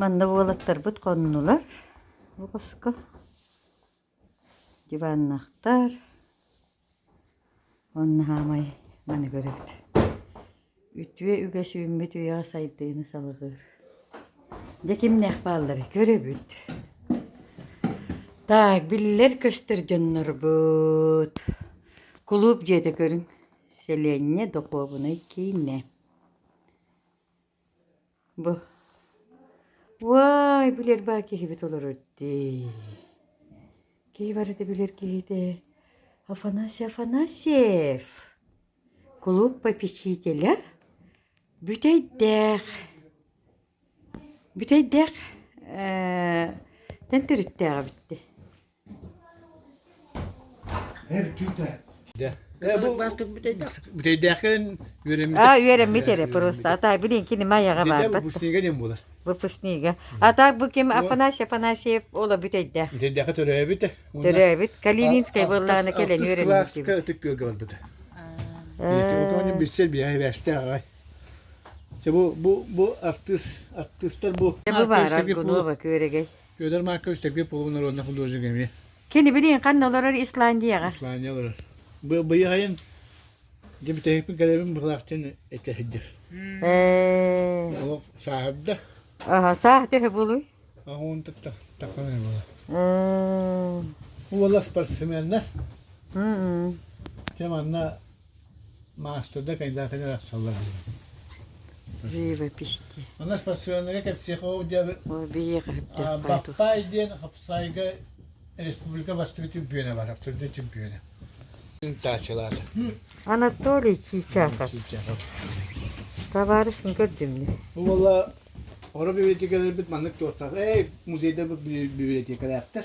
Манна уолаттарбыт хоннулар бу хоско диваннахтар уонна хаамай маны көрөбүт үтүө үгэс үүммүт үйэҕэ сайдыыны салҕыыр дьэ кимнээх баалларый көрөбүт так биллэр көстөр дьоннорбут кулууп дьиэтэ көрүҥ сэлиэнньэ духуобунай киинэ Бу Уай, билэр баа киһибит олорор дии. Киһи барыта билэр киһитэ Афанасий Афанасьев. Клуб попечителя Бүтэйдээх. Бүтэйдээх э, тэн төрүттээҕэ битти. аа үөрэммит эрэ просто а билин кини майаҕа барбат выпускнига а так бу ким афанасий афанасьев ола бүтэйдээх төрөөбүт калининскай буоллаана кэлэн үөрэммит билсер биэһэ бээстээх аҕай бу бу артыыстар бу Федор Маркович Тегли Полу народных художников эмиэ. Кини билигин ханна олорор Исландияҕа. Исландия олорор. Быйайын дьэ бүтэһикпин кэлэбин быһлаахтын этэ сылдьар. Олох сааһырда. Аха, саах төһө болуй? Ахуун тахта тахана була. Уола спортсменна. Тем анна Маастарда кандидатын арахсаллар диэн. Живописи. Она спортсменнарга психология Баппай диэн хапсайга республика бастыгы чемпиона бар, абсолютно чемпиона. Анатолий Чичаков. Товарищ көрдүмнү. Була Ора библиотекаларбыт маннык туоттаах. Эй, музейдарбыт библиотекалаахтар.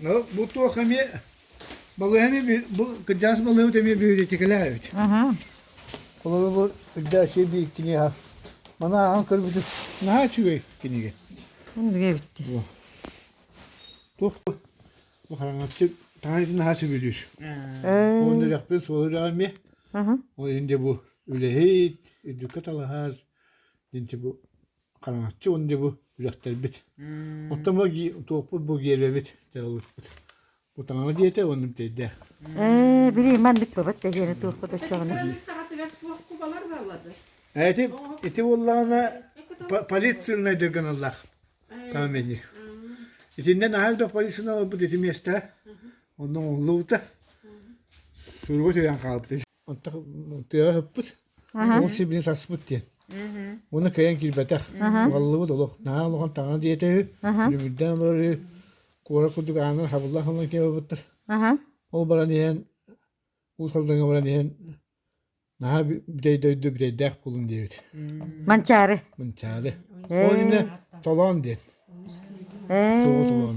Ол бу туох эмиэ балыыһаны бу кырдьаҕас балыыһабыт эмиэ бүһүтэтикэлээбит. Холобур бу Ырдьааччы биир киниэхэ маны ааҕан көрбүтүм наһаа үчүгэй кинигэ. Мин билэ эбиттэр. Туох бу бу хараҥаччы таҥайытын наһаа сөбүлүүр. Уон үрэхпин суол үрэҕи эмиэ. Ол иһин бу үлэһит, үрдүккэ талаһар. Дьинчи бу хараҥаччы уонна дьэ бу үрэхтэрбит. Оттон бу туохпут бу гиэлэбит, дьаралыппыт. Бу таҥара диэтэ уонна бүтэйдээх. Ээ, билиим, маннык бабат тэһиэни туохпут оччоҕуна. Биир саҕатыгар суох кубалар баалады. Эти, ити буоллаҕына полицийнайдыр гыналлаах каменник. Итиннэн аһаал да полицийналарбыт ити миэстэ. Онно оҥуллубута. Суруга түһэн хаалбыт. Онтон тыаҕа ыһыппыт, уол сибилин саспыт диэн. Уонна кыайан киирбэтэх. Угаллыбыт олох. Наһаа улахан таҥана диэтэ үһү. Үлүбүрдээн олорор үһү. Куора курдук аанын хабылла хабылла киирэ барбыттар. Ол баран иһэн, уус алдаҥҥа баран иһэн, наһаа бүтэй дойду бүтэйдээх буолун диэбит. Манчаары. Манчаары. Ол иннэ толоон диэн. Суоҕу толоон.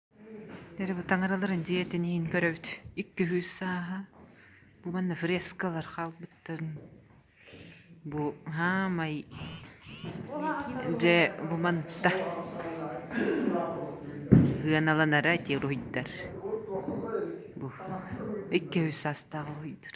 Тэрибэ таҥараларын дьиэ тэнийин көрөбүт. Икки үһүс сааһа. Бу манна фрескалар хаалбыттарын. Бу хаамай дьэ бу манта сыаналанара ити уруһуйдар. Бу икки үһүс саастаах уруһуйдар.